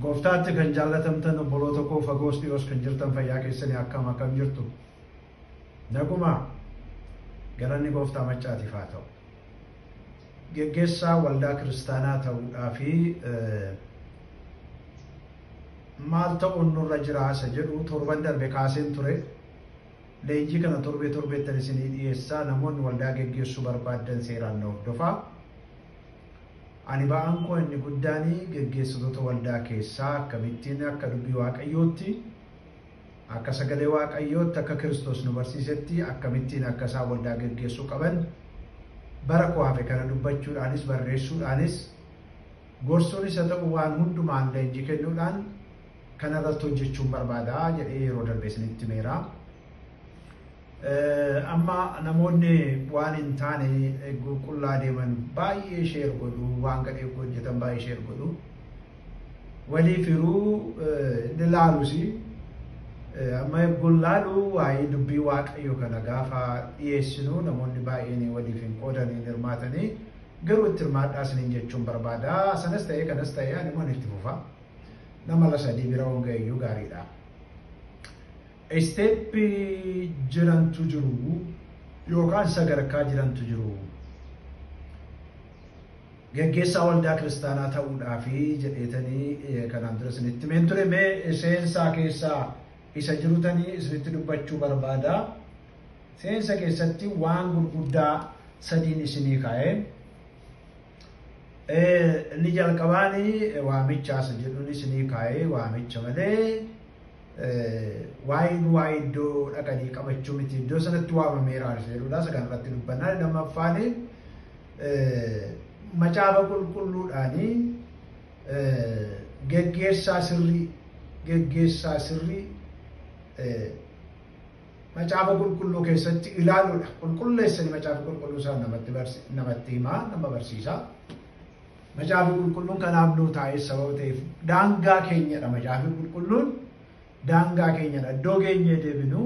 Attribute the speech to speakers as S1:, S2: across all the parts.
S1: Gooftaatti kan jaallatamtan obboloota koo fagoos dhiyoos kan jirtan fayyaa keessanii akkam akkam jirtu. Naguma galanni gooftaa maccaatiif haa ta'u. Geggeessaa waldaa kiristaanaa ta'uudhaa fi maal ta'uun nurra jira isa jedhu torban darbe kaaseen ture. Leenjii kana torbee torbeettan isinii dhiyeessaa namoonni waldaa geggeessuu barbaaddan seeraan na hordofaa. Ani ba'aan koo inni guddaan geggeessitoota waldaa keessaa akkamittiin akka dubbii Waaqayyootti, akka sagalee Waaqayyootti, akka Kiristoos nu barsiisetti akkamittiin akka isaan waldaa geggeessuu qaban bara koo hafe kana dubbachuudhaanis barreessuudhaanis gorsuunis haa ta'u waan hundumaan leenjii kennuudhaan kana irratti hojjechuun barbaada jedhee yeroo darbe isinitti himeera. Amma namoonni waan hin taane eeguu qullaa deeman baay'ee sheer godhu waan gadhee koo hojjetan baay'ee sheer godhu walii firuu ni laalusi amma eeguun laalu waa'ee dubbii waaqayyo kana gaafa dhiyeessinu namoonni baay'een waliif hin qoodanii hin hirmaatanii garuu itti hirmaadhaa isiniin jechuun barbaada sanas ta'ee kanas ta'ee ani immoo itti fufa nama la sadii bira honga'eeyyuu gaariidha. Step jirantu jiru yookaan sadarkaa jirantu jiru. Geggeessaa waldaa kiristaanaa ta'uudhaafi jedheetanii kanaan dura isinitti himeen ture mee seensaa keessaa isa jirutanii isinitti dubbachuu barbaada. Seensa keessatti waan gurguddaa sadiin isinii kaa'ee inni jalqabaanii waamichaasa jedhuun isinii kaa'ee waamicha malee Waa'een waa'ee iddoo dhaqanii qabachuu miti iddoo sanatti waamameera jedhudha isa kanarratti dubbannaa lammaffaan macaafa qulqulluudhaanii geggeessaa sirrii geggeessaa sirrii macaafa qulqulluu keessatti ilaaluudha qulqulleessanii macaafa qulqulluu isaa namatti himaa nama barsiisaa. Macaafni qulqulluun kanaaf nuu taa'ee sababa ta'eef daangaa keenyadha macaafni qulqulluun daangaa keenyadha iddoo geenyee deebinu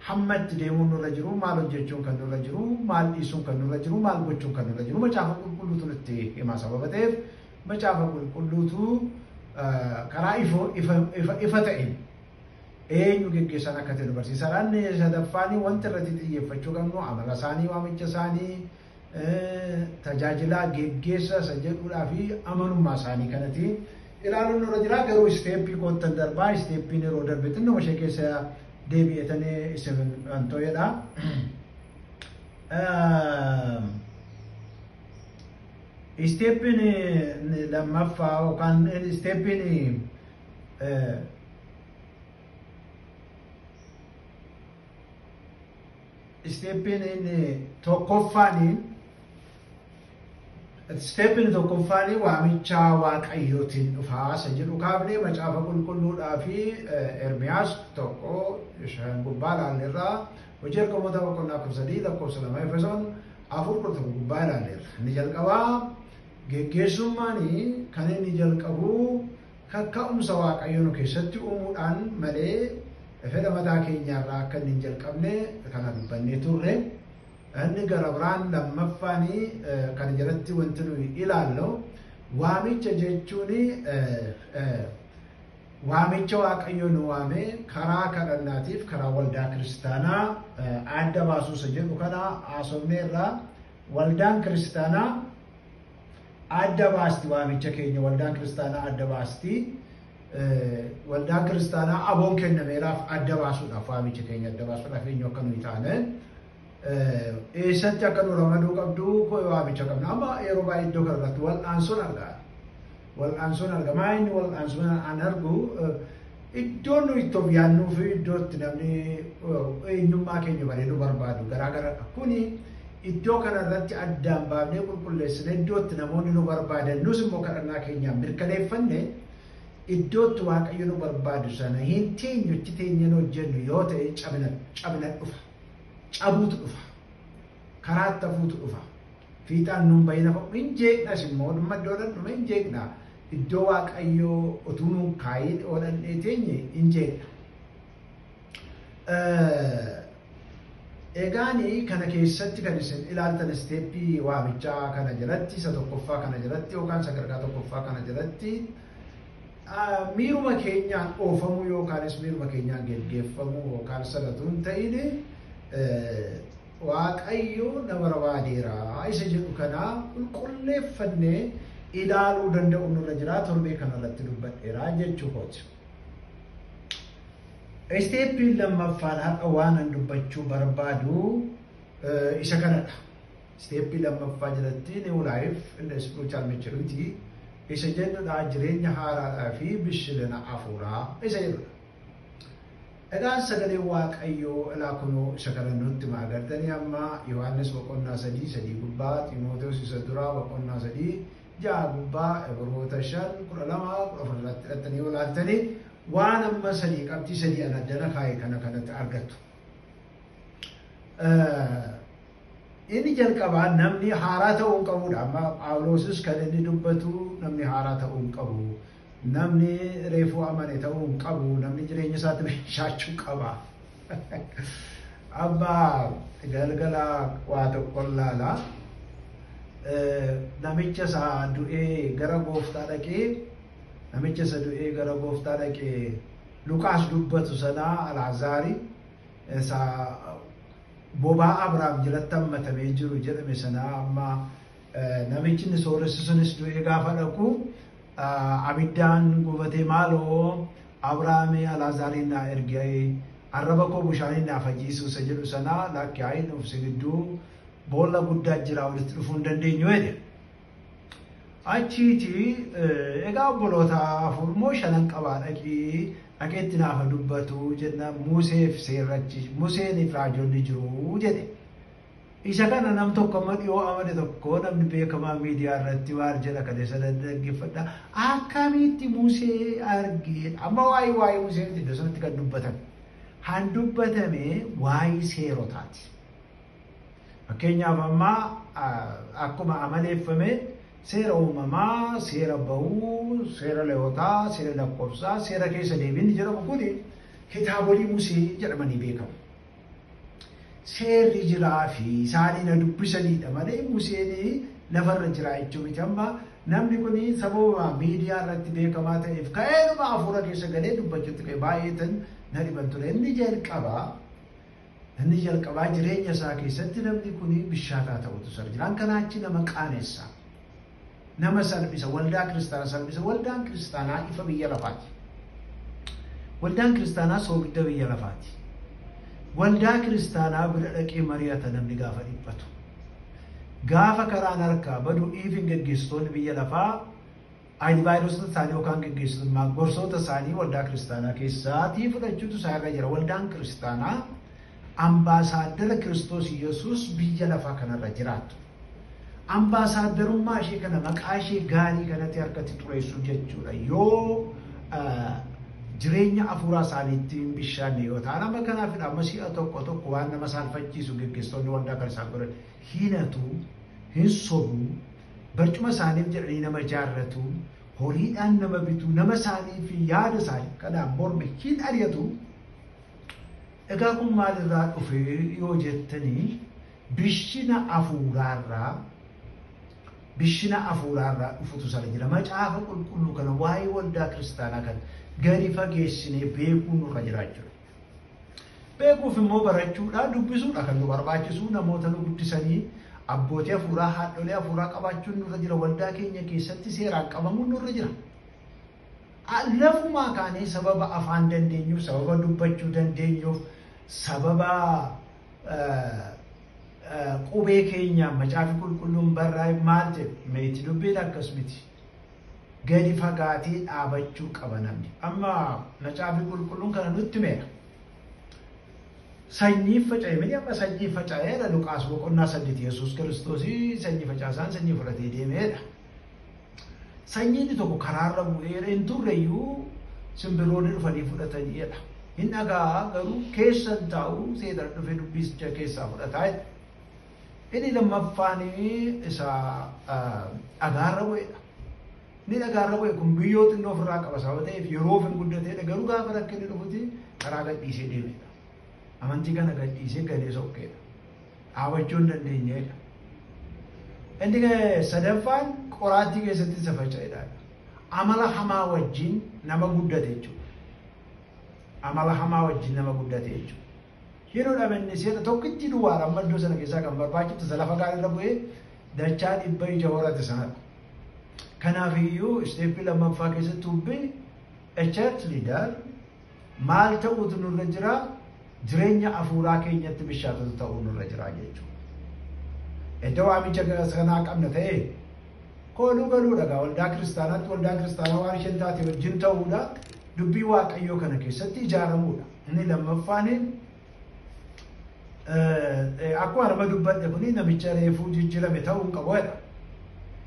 S1: hamma itti deemuun nurra jiru maal hojjechuun kan nurra jiru maal dhiisuun kan nurra jiru maal gochuun kan nurra jiru macaafa qulqulluutu nutti hima sababa ta'eef macaafa qulqulluutu karaa ifoo ifa ta'een eenyu geggeessaan akka ta'e nu barsiisa. Sadaffaan wanti irratti xiyyeeffachuu qabnu amala isaanii waamicha isaanii tajaajilaa geggeessaa isa jedhuudhaa fi amanummaa isaanii kanati ilaaluun irra jira garuu isteeppii koottan darbaa isteeppiin yeroo darbe xinnuma ishee keessa deebi'etanii isin anto'edha. Isteeppiin lammaffaa yookaan isteeppiin Isteeppiin inni tokkoffaanii Isteeppiin tokkoffaanii waamicha waaqayyootiin dhufaa isa jedhu kaafnee macaafa qulqulluudhaa fi Ermiyaas tokko shan gubbaa ilaalleerraa hojii ergamoota boqonnaa kudha sadii lakkoofsa lama Efesoon afur kudha tokko gubbaa ilaalleerra. Inni jalqabaa geggeessummaan kan inni jalqabu Kakka'umsa Waaqayyo nu keessatti uumuudhaan malee fedha mataa keenyaa irraa akka inni hin jalqabne kana dubbannee turre. Inni gara biraan lammaffaan kana jalatti wanti nuyi ilaallu waamicha jechuun waamicha Waaqayyo nu waame karaa kadhannaatiif karaa waldaa kiristaanaa adda baasuusa jedhu kana haasofneerra. Waldaan kiristaanaa adda baasti waamicha keenya waldaan kiristaanaa adda baasti waldaan kiristaanaa aboon kennameeraaf adda baasuudhaaf waamicha keenya adda baasuudhaaf eenyu akka nuyi taane eessatti akka nu ramaduu qabdu waamicha qabna amma yeroo baay'ee iddoo kana irratti wal'aansoon argaa wal'aansoon arga maa inni wal'aansoon an argu Iddoo nuyi itti of yaadnuu fi iddoo itti namni eenyummaa keenya baree nu barbaadu garaa garadha. Kuni iddoo kana irratti addaan baafnee qulqulleessine iddoo itti namoonni nu barbaadan nus immoo kadhannaa keenyaan mirkaneeffanne iddoo itti waaqayyo nu barbaadu sana hin teenyu itti teenyeen hojjennu yoo ta'e cabina cabina dhufa. Cabuutu dhufa. karaatti hafuutu dhufa. Fiixaan nun bahina ka'u hin jeeqnas immoo dhumma iddoo dhandhume hin jeeqna. Iddoo Waaqayyoo otuu nuun kaayiin yoo dhandhee teenye hin jeeqna. Egaani kana keessatti kan isin ilaaltan isteeppii waamichaa kana jalatti isa tokkoffaa kana jalatti yookaan sadarkaa tokkoffaa kana jalatti Miiruma keenyaan oofamuu yookaanis miiruma keenyaan geggeeffamuu yookaan sana utuu hin ta'in Waaqayyo na barbaadeera isa jedhu kana qulqulleeffannee ilaaluu danda'u nurra jira torbee kanarratti dubbadheera jechuu kooti. Isteeppiin lammaffaan har'a waanan dubbachuu barbaadu isa kanadha. Isteeppii lammaffaa jalatti New Life in the Spiritual Maturity isa jennudha jireenya haaraadhaa fi bishilina afuuraa isa jedhudha. Egaa sagalee Waaqayyoo ilaa kunoo isa kana nutti hima agartanii amma Yohaannis boqonnaa sadii sadii gubbaa Ximooteos isa duraa boqonnaa sadii ja'a gubbaa Ibroota shan kudha lama kudha afur irratti hidhattanii yoo ilaaltanii waan amma sadii qabxii sadii ana addana kaa'e kana kanatti argattu. Inni jalqabaa namni haaraa ta'uu hin qabuudha. Amma Phaawuloosis kan inni dubbatu namni haaraa ta'uu hin qabu. Namni reefuu amane ta'uu hin qabu. Namni jireenya isaatti meeshaachuu qaba. Amma galgala waa tokko laala. Namicha isaa du'ee gara gooftaa dhaqee namicha isa du'ee gara gooftaa dhaqee Luqaas dubbatu sanaa Alaazaari Isa bobaa Abrahaam jalatti hammatamee jiru jedhame sanaa amma namichi inni sooressu sunis du'ee gaafa dhaqu abiddaan gubatee maaloo Abrahaamii Alaazaariin naa ergee arraba koo bushaaniin naa fayyisuu isa jedhu sanaa lakki haa'in obsi gidduu boolla guddaa jira walitti dhufuu hin dandeenyu jedhe. Achiiti egaa obboloota afur moo shanan qabaa dhaqii dhaqeetti naafa dubbatu jenna Museef seerrachi Museeniif raajonni jiru jedhe. Isa kana nam tokko amma dhiyoo amane tokko namni beekamaa miidiyaa irratti maal jedha kan isa dhaggeeffadha. Akkamitti Musee argee amma waa'ee waa'ee Musee miti iddoo sanatti kan dubbatame. Han dubbatame waa'ee seerotaati. Fakkeenyaaf amma akkuma amaleeffame seera uumamaa, seera bahuu, seera leewotaa, seera lakkoofsaa, seera keessa deebiin jedhamu kun kitaabolii musee jedhamanii beekamu. Seerri jiraa fi isaanii na dubbisaniidha malee museen lafarra jiraa jechuun miti amma namni kun sababa miidiyaa irratti beekamaa ta'eef ka'eedhuma hafuura keessa galee dubbachuutti ka'e baay'eetan na dhiban ture. Inni jalqaba Namni jalqabaa jireenya isaa keessatti namni kun bishaataa ta'utu sar jiraan kanaa achi nama qaanessa. Nama salphisa waldaa kiristaanaa salphisa waldaan kiristaanaa ifa biyya lafaati. Waldaan kiristaanaa soogidda biyya lafaati. Waldaa kiristaanaa bira dhaqee mari'ata namni gaafa dhiphatu. Gaafa karaan harkaa badu dhiifin geggeessitoonni biyya lafaa Aaynivaayirosota isaanii yookaan geggeessitummaa gorsoota isaanii waldaa kiristaanaa keessaatii fudhachuutu isaa irra jira. Waldaan kiristaanaa ambaasaaddara Kiristoos Yesuus biyya lafaa kanarra jiraattu. Ambaasaaddarummaa ishee kana maqaa ishee gaarii kanatti harkatti xureessuu jechuudha. Yoo jireenya hafuuraa isaaniitti hin bishaanne yoo ta'an amma kanaafidha amma si'a tokko tokko waan nama saalfachiisu geggeessitoonni waldaa kan isaan godhan hin hatu hin sobu Barcuma isaaniif jedhanii nama ijaarratu, horiidhaan nama bitu, nama isaanii fi yaada isaanii kanaan morme hin ari'atu. Egaa kun maalirraa dhufe yoo jettanii bishina afuuraarraa bishina afuuraarraa dhufutu sana jira. Macaafa qulqulluu kana waa'ee waldaa kiristaanaa kan gadi fageessinee beekuu nurra jiraachudha. Beekuuf immoo barachuudhaa dubbisuudha kan nu barbaachisu namoota nu guddisanii abbootii hafuuraa haadholee hafuuraa qabaachuun nurra jira waldaa keenya keessatti seeraan qabamuun nurra jira. Lafumaa kaanee sababa afaan dandeenyuuf sababa dubbachuu dandeenyuuf sababa qubee keenya macaafi qulqulluun barraa'e maal jedhe meetti dubbiin akkas miti. gadi fagaatee dhaabachuu qaba namni. Amma macaafi qulqulluun kana nutti meera. Sanyiin faca'e miti amma sanyiin faca'eedha Luqaas boqonnaa saddeet Yesuus Kiristoos sanyii facaasaan sanyii fudhatee deemeedha. Sanyiin tokko karaarra bu'eera hin turreyyuu simbirroonni dhufanii fudhataniidha. Hin dhagaa garuu keessa hin taa'u seexan dhufee dubbicha keessaa fudhataa jedha. Inni lammaffaan isa dhagaarra bu'edha. Inni dhagaarra bu'e kun biyyoo xinnoo ofirraa qaba sababa ta'eef yeroo ofin guddateedha garuu gaafa rakkinni dhufuti karaa gadhiisee deemedha. Amantii kana gadhiisee galee sokkeedha. Dhaabachuu hin dandeenyedha. Inni sadaffaan qoraattii keessatti isa faca'edha. Amala hamaa wajjin nama guddate jechuudha. Amala hamaa wajjin nama guddate jechuudha. Hin hudhame inni seeta tokkittii duwwaadha amma iddoo sana keessaa kan barbaachifte isa lafa gaariirra bu'ee dachaa dhibba ija horate sanadha. Kanaaf iyyuu isteeppii lammaffaa keessatti hubbin echat liidar maal ta'uutu nurra jira jireenya afuuraa keenyatti bishaatota ta'uu nurra jira jechuudha. Edda waamicha kanaa qabna ta'e kooluu galuudha gaa waldaa kiristaanaatti waldaa kiristaanaa waan isheen taate wajjin ta'uudha dubbii waaqayyoo kana keessatti ijaaramuudha. Inni lammaffaan akkuma arma dubbadhe kun namicha reefuu jijjiirame ta'uu hin qabu jedha.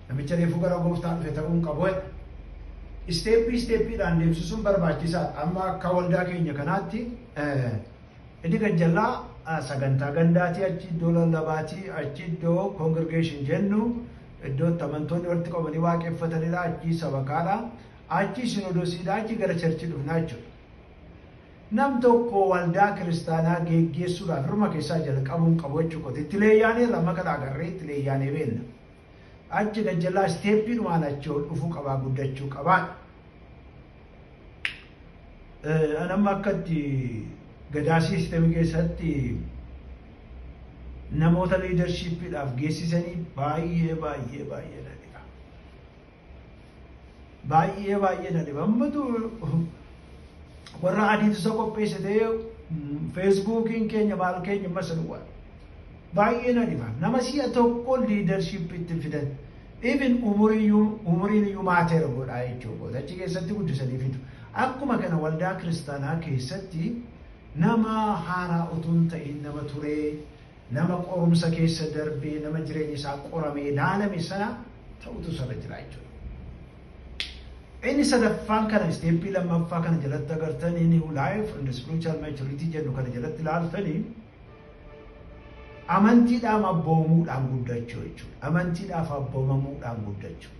S1: Namicha reefuu gara gooftaa dhufe ta'uu hin qabu jedha. Isteeppii isteeppiidhaan deemsisuun barbaachisaadha. Amma akka waldaa keenya kanaatti inni gajjallaa sagantaa gandaatii achi iddoo lallabaatii achi iddoo koongirgeeshin jennu iddoo itti amantoonni walitti qabanii waaqeffatanidha achi sabakaadha achi sinodosiidha achi gara charchii dhufnaa jechuudha. Nam tokko waldaa kiristaanaa geeggeessuudhaaf irruma keessaa jalqabuun qabu jechuu kooti. Itti leeyyaaneerra amma kana agarree itti leeyyaanee beenna. Achi gad jalaa isteeppiidhumaan achi ol dhufuu qabaa guddachuu qabaa. An amma akka itti gadaa siistemii keessatti namoota liidarshiippiidhaaf geessisanii baay'ee baay'ee baay'ee baay'ee baay'ee na dhiba. Ammatu warra adiitu isa qopheessitee feesbuukiin keenya maal keenya masa duwwaa. Baay'ee na dhiba. Nama si'a tokko liidarshiippii itti fidan. Ibin umuriin iyyuu maateera godhaa jechuudha. Achi keessatti guddisanii fidu. Akkuma kana waldaa kiristaanaa keessatti nama haaraa utuu hin ta'in nama turee nama qorumsa keessa darbee, nama jireenyi isaa qoramee laalame sana ta'utu isarra jira jechuudha. Inni sadaffaan kana isteeppii lammaffaa kana jalatti agartanii new life and spiritual maturity jedhu kana jalatti ilaaltanii amantiidhaaf abboomamuudhaan guddachuu jechuudha. Amantiidhaaf abboomamuudhaan guddachuu.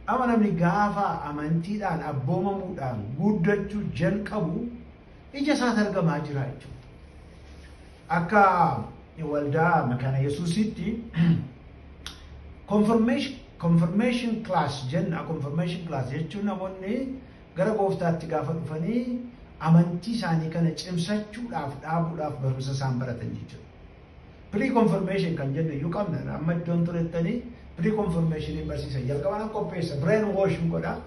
S1: Amma namni gaafa amantiidhaan abboomamuudhaan guddachuu jalqabu ija isaati argamaa jira jechuudha. Akka waldaa makaana Yesuusitti confirmation class jenna confirmation class jechuun namoonni gara gooftaatti gaafa dhufanii amantii isaanii kana cimsachuudhaaf dhaabuudhaaf barumsa isaan baratan jechuudha. Pre-confirmation kan jennu iyyuu qabna. Amma iddoon turettanii pre-confirmation barsiisa. Jalqaba nan qopheessa. Brain wash godha.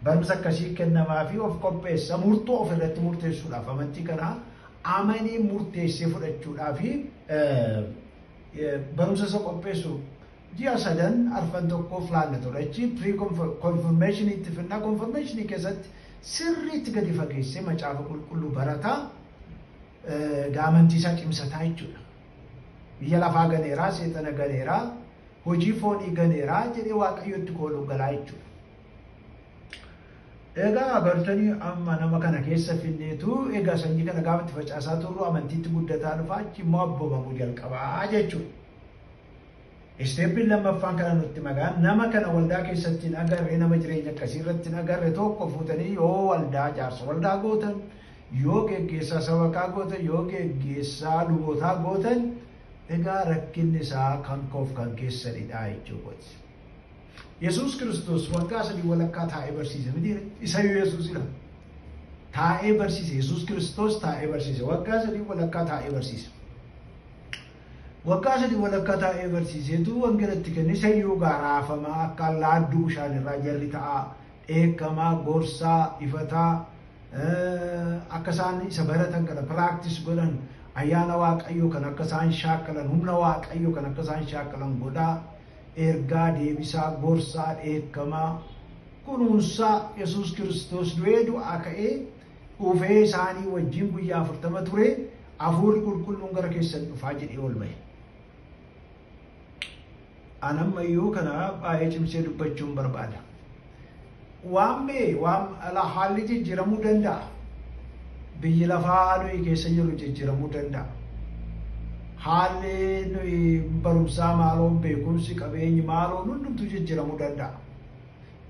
S1: Barumsa akkasii kennamaa fi of qopheessa. Murtoo of irratti murteessuudhaaf amantii kana amanii murteessee fudhachuudhaa fi barumsa isa qopheessu ji'a sadan arfan tokko filaanna ture. Achi pre-confirmation itti fidna. Confirmation keessatti sirriitti gadi fageessee macaafa qulqulluu barataa daamantii isaa cimsataa jechuudha. Biyya lafaa ganeeraa, seexana ganeeraa, hojii foonii ganeeraa jedhee waaqayyotti kooluu galaa jechuudha. Egaa bartanii amma nama kana keessa finneetu egaa sanyii kana gaafa itti facaasaa turru amantiitti guddataa dhufaa achi immoo abboomamu jalqabaa jechuudha. Isteeppiin lammaffaan kana nutti magaan nama kana waldaa keessatti hin agarre nama jireenya akkasii irratti hin agarre tokko fuutanii yoo waldaa jaarsa waldaa gootan yoo geggeessaa sabakaa gootan yoo geggeessaa lubootaa gootan egaa rakkinni isaa kan koof kan keessanidha jechuu kooti. Yesuus Kiristoos waggaa sadii walakkaa taa'ee barsiise miti isayyuu Yesuusidha. Taa'ee barsiise Yesuus Kiristoos taa'ee barsiise waggaa sadii walakkaa taa'ee barsiise. Waggaa sadii walakkaa taa'ee barsiiseetu wangeela itti kenne sayyoo gaa raafamaa akka laadduu bishaanirraa jarri ta'aa dheekkamaa gorsaa ifataa akka isaan isa baratan kana piraaktis godhan ayyaana waaqayyoo kan akka isaan shaakkalan humna waaqayyoo kan akka isaan shaakkalan godhaa ergaa deebisaa gorsaa dheekkamaa kunuunsaa yesus kiristoos du'ee du'aa ka'ee dhufee isaanii wajjin guyyaa afurtama ture, Hafuurri Qulqulluun gara keessan dhufaa jedhee ol ba'e. An amma iyyuu kana baay'ee cimsee dubbachuun barbaada. Waan bee waan ala haalli jijjiiramuu danda'a. Biyyi lafaa nuyi keessa jirru jijjiiramuu danda'a. Haalli nuyi barumsaa maaloo beekumsi qabeenyi maaloo hundumtuu jijjiiramuu danda'a.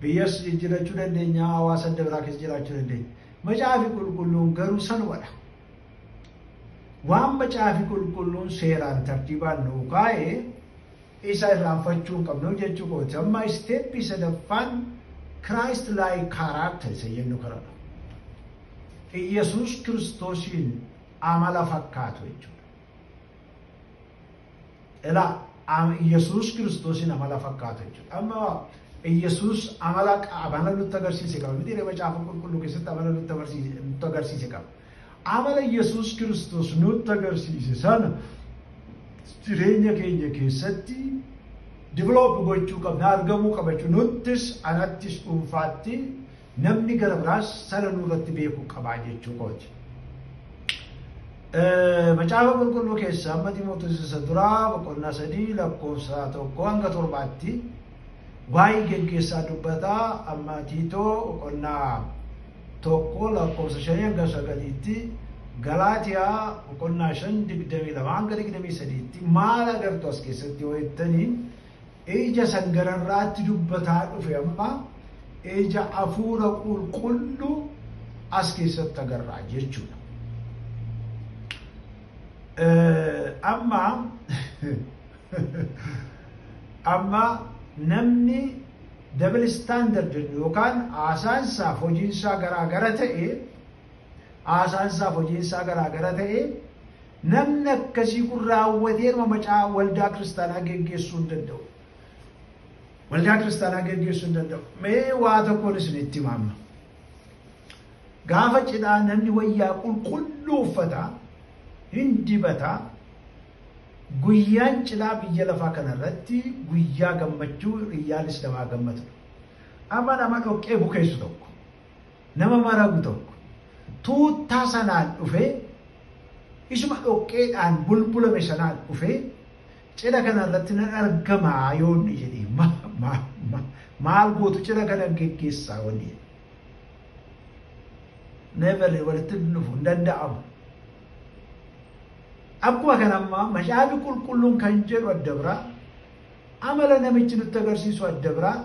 S1: Biyyas jijjirachuu dandeenya, hawaasa adda biraa keessa jiraachuu dandeenya. Macaafi qulqulluun garuu sanumadha. Waan macaafi qulqulluun seeraan tartiibaan nuu kaa'e isa irraanfachuu hin qabnu jechuu kooti. Amma isteeppii sadaffaan Christ like character isa jennu kanadha. Iyyasuus Kiristoosiin amala fakkaatu jechuudha. Ilaa ama Iyyasuus Kiristoosiin amala fakkaata jechuudha. Amma Iyyasuus amala amala nutti agarsiise qaba. Miti macaafa qulqulluu keessatti amala nutti agarsiise nutti agarsiise qaba. Amala Iyyasuus Kiristoos nutti agarsiise sana jireenya keenya keessatti diviloopi gochuu qabna argamuu qaba jechuudha. Nuttis anattis dhuunfaatti Namni gara biraas sana nurratti beekuu qabaa jechuu kooti. Macaafa qulqulluu keessaa amma Ximootos isa duraa boqonnaa sadii lakkoofsa tokko hanga torbaatti waa'ee geggeessaa dubbata amma Tiitoo boqonnaa tokko lakkoofsa shanii hanga sagaliitti Galaatiyaa boqonnaa shan digdamii lama hanga digdamii sadiitti maal agartu as keessatti yoo jettanii Eija san gararraatti dubbataa dhufe amma eija afuura qulqullu as keessatti agarraa jechuudha. Amma amma namni double standard yookaan haasaansaaf hojiinsaa garaa gara ta'e haasaansaaf hojiinsaa garaa gara ta'e Namni akkasii kun raawwateeruma macaa waldaa kiristaanaa geggeessuu hin danda'u. Waldaa kiristaanaa geggeessuu hin danda'u. Mee waa tokkoon isinitti hima amma. Gaafa cidhaa namni wayyaa qulqulluu uffata hin dibata. Guyyaan cidhaa biyya lafaa kanarratti guyyaa gammachuu riyyaan islamaa gammadudha. Amma nama dhoqqee bukeessu tokko Nama maragu tokko tuuttaa sanaan dhufee isuma dhoqqeedhaan bulbulame sanaan dhufee cidha kana irratti nan argama yoo inni jedhe ma, ma, ma, maal gootu cidha kana geggeessaa wanni jedhe. Never walitti hin dhufu hin danda'amu. Akkuma kana ammaa macaafni qulqulluun kan jedhu adda biraa amala namichi nutti agarsiisu adda biraa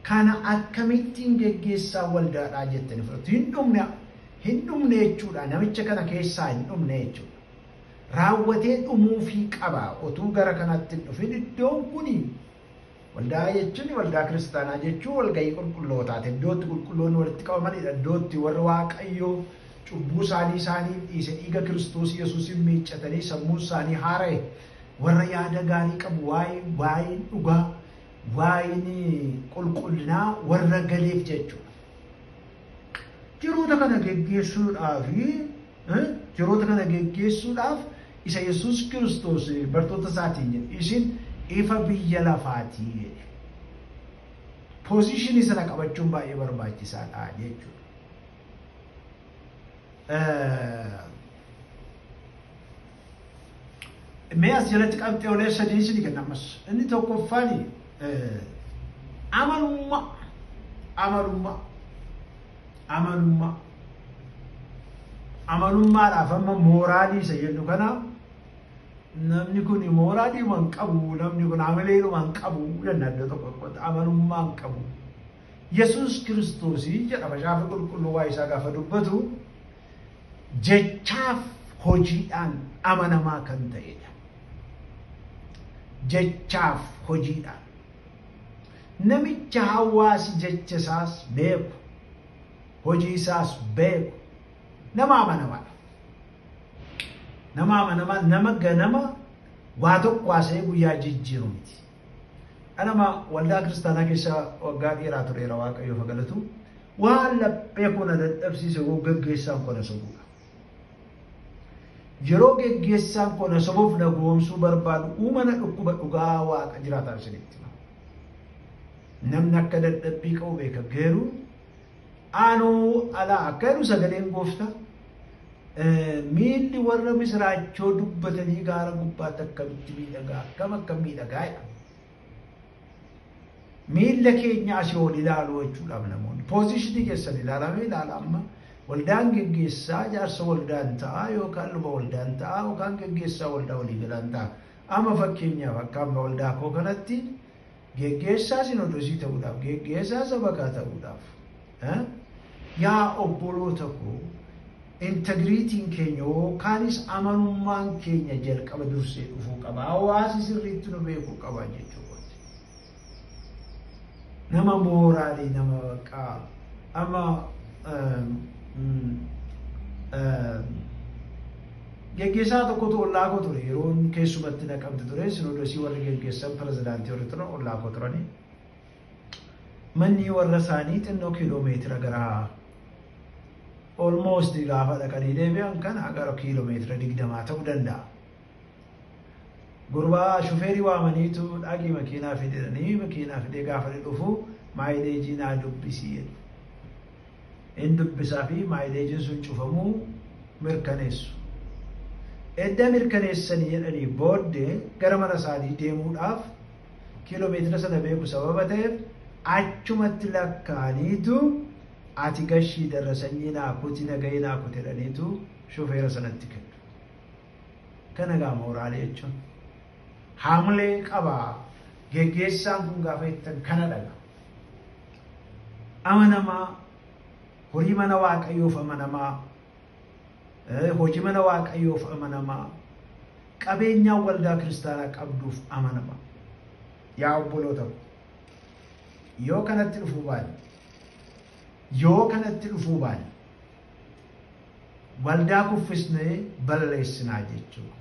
S1: Kana akkamittiin geggeessaan waldaadhaa jettanii fudhattu? Hin dhumne, hin dhumne jechuudha, namicha kana keessaa hin dhumne jechuudha. Raawwatee dhumuufii qaba otuu gara kanatti hin dhufin iddoon kuni waldaa jechuun waldaa kiristaanaa jechuun walgahii qulqullootaati. Iddootti qulqulloonni walitti qabamanidha. Iddootti warri Waaqayyoo cubbuu isaanii isaanii dhiise dhiiga Kiristoos Yesuusiin miiccatanii sammuun isaanii haara'e warra yaada gaarii qabu waa'ee waa'ee dhugaa waayinii qulqullinaa warra galiif jechuudha. Jiroota kana geggeessuudhaaf jiroota kana geggeessuudhaaf isa Yesuus Kiristoos bartoota isaatiin jedhe isin ifa biyya lafaatii jedhe. Poozishinii sana qabachuun baay'ee barbaachisaadha jechuudha. Mee as jalatti qabxeelee sadii isin kenna ammas. Inni tokkoffaan amalummaa amalummaa amalummaa amalummaadhaaf amma mooraalii isa jennu kana namni kun mooraalii waan qabu namni kun amaleedhuma hin qabu jenna iddoo tokko tokkotti amalummaa hin qabu. Yesuus Kiristoosi jedha Macaafi Qulqulluu waa'ee isaa gaafa dubbatu jechaaf hojiidhaan amanamaa kan ta'edha. Jechaaf hojiidhaan. Namicha hawaasi jecha isaas beeku, hojii isaas beeku, nama amanamaadha. Nama amanamaa, nama ganama waa tokko haasa'ee guyyaa jijjiiru miti. Anama waldaa kiristaanaa keessa waggaa dheeraa tureera waaqayyoo fagalatu waan laphee koo na dadhabsiise koo gaggeessaan koo na sobuudha. Yeroo gaggeessaan koo na sobuuf na goomsuu barbaadu uumana dhukkuba dhugaa waaqa jiraataa isinitti. Namni akka dadhabbii qabu beeka garuu Aanuu alaa akka jedhu sagaleen gooftaa miilli warra misiraachoo dubbatanii gaara gubbaatti akkamitti miidhagaa akkam akkam miidhagaa jedha. Miilla keenya asii ol ilaaluu jechuudhaaf namoonni poozishinii keessan ilaalamee ilaala amma waldaan geggeessaa jaarsa waldaan ta'a yookaan luba waldaan ta'a yookaan geggeessaa waldaa waliigalaan ta'a. Amma fakkeenyaaf akka amma waldaa koo kanatti Geggeessaa sinodosii ta'uudhaaf, geggeessaa sabakaa ta'uudhaaf, yaa obboloota koo integriitiin keenya yookaanis amanummaan keenya jalqaba dursee dhufuu qaba. Hawaasi sirriitti nu beekuu qaba jechuu kooti. Nama mooraalii nama baqqaa amma Geggeessaa tokkotu ollaa koo ture. Yeroon keessumatti Naqamte ture. Sinoodosii warri geggeessan pirezidaantii warri turan ollaa koo turani. Manni warra isaanii xinnoo kiiloo meetira gara almost gaafa dhaqanii deebi'an kana gara kiiloo meetira digdamaa ta'uu danda'a. Gurbaa shufeerii waamaniitu dhaqii makiinaa fidanii makiinaa fidee gaafa dhufu maayileejii naa dubbisii jedhu. in dubbisa fi maayileejiin sun cufamuu mirkaneessu. Edda mirkaneessanii jedhanii boodde gara mana isaanii deemuudhaaf kiiloomeetira sana beeku sababa ta'eef achumatti lakkaa'aniitu ati gashii darrasanyii naa kuti nagahee naa kuti jedhaniitu shofeera sanatti kennu. Kana gaa mooraalee jechuun haamlee qaba geggeessaan kun gaafa jettan kana dhaga. amanamaa, horii mana Waaqayyoof amanamaa, eh, hojii mana Waaqayyoof amanamaa, qabeenyaa waldaa kiristaanaa qabduuf amanamaa. Yaa obboloota ko, yoo kanatti dhufuu baanne, yoo kanatti dhufuu baanne, waldaa kuffisnee balleessinaa jechuudha.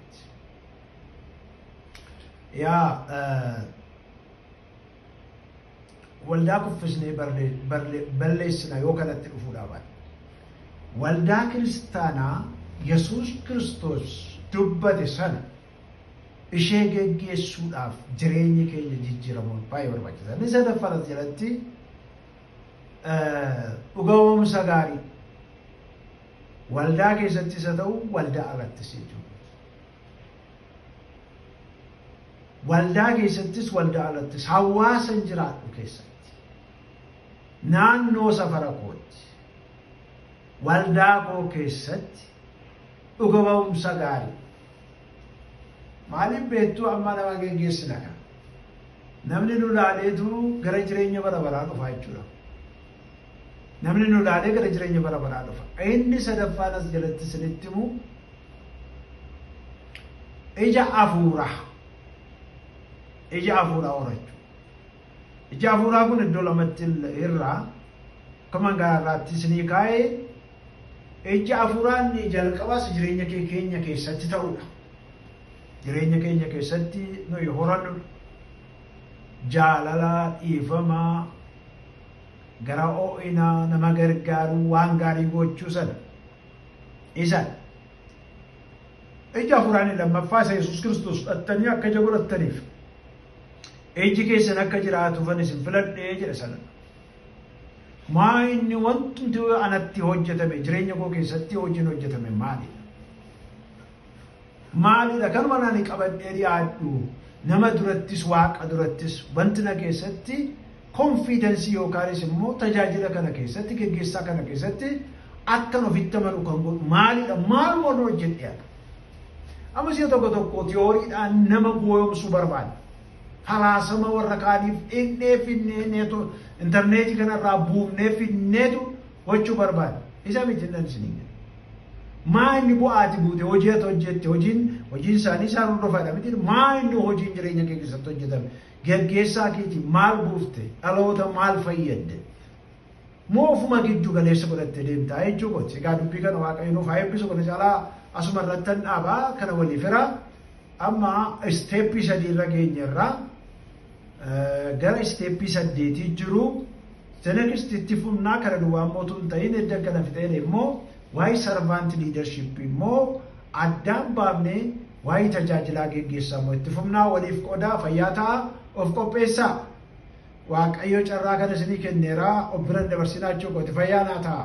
S1: Yaa eh, waldaa kuffisnee balleessina yoo kanatti dhufuu dhaaban. Waldaa kiristaanaa Yesuus Kiristoos dubbate sana ishee geggeessuudhaaf jireenya keenya jijjiiramuun baay'ee barbaachisa. Inni sadaffaan as jalatti dhugaa'umsa gaarii waldaa keessattis haa ta'u waldaa alattis jechuudha. Waldaa keessattis waldaa alattis hawaasan jiraadhu keessatti naannoo safara kootti waldaa koo keessatti dhuga ba'umsa gaarii maaliif beektuu amma nama geggeessina kan namni nu laaleetu gara jireenya bara baraa dhufaa jechuudha. Namni nu ilaalee gara jireenya bara baraa dhufa. Inni sadaffaan as jalatti isinitti himu ija hafuuraa. Ija hafuuraa horachuu. Ija hafuuraa kun iddoo lamatti irraa akkuma garaa irraatti isinii kaa'ee ija hafuuraa inni jalqabaas jireenya kee keenya keessatti ta'udha. Jireenya keenya keessatti nuyi horannudha. Jaalala, dhiifama, gara oo'inaa nama gargaaruu waan gaarii gochuu sana isa ija hafuuraanii lammaffaa isa Yesuus Kiristoos fudhattanii akka ija godhattaniif iji keessan akka jiraatuufan isin filadhee jedha sana. Maa inni wanti anatti hojjetame jireenya koo keessatti hojiin hojjetame maalidha? Maalidha kan waan ani qabadhee dhiyaadhu nama durattis waaqa durattis wanti na keessatti konfiidensii yookaanis immoo tajaajila kana keessatti geggeessaa kana keessatti akkan ofitti amanu kan godhu maalidha maal moon hojjedhe amma si'a tokko tokko tiyooriidhaan nama gooyomsuu barbaada falaasama warra kaaniif dhinnee finnee neetu intarneetii kanarraa buufnee finneetu gochuu barbaade. Isa miti nan isiniin jedhe. Maa inni bu'aati buute hojii ati hojjette hojiin hojiin isaanii isaan hordofaadha miti maa inni hojiin jireenya kee keessatti hojjetame geggeessaa keetii maal buufte dhaloota maal fayyadde moo ofuma giddu galeessa godhatte deemtaa jechuu kooti egaa dubbii kana waaqayyo nuuf haa eebbisu kana caalaa asuma irrattan dhaabaa kana walii fira amma isteeppii sadii irra geenye irraa Gara isteeppii saddeetii jiru. The next itti fufnaa kana duwwaa immoo tun ta'in edda kana fixeen immoo waa'ee sarvaanti liidarshippii immoo addaan baafnee waa'ee tajaajilaa geggeessaa immoo itti fufnaa waliif qodaa fayyaa ta'a of qopheessaa. Waaqayyo carraa kana isinii kenneera of biran dabarsinaa jechuu kooti fayyaa naa ta'a.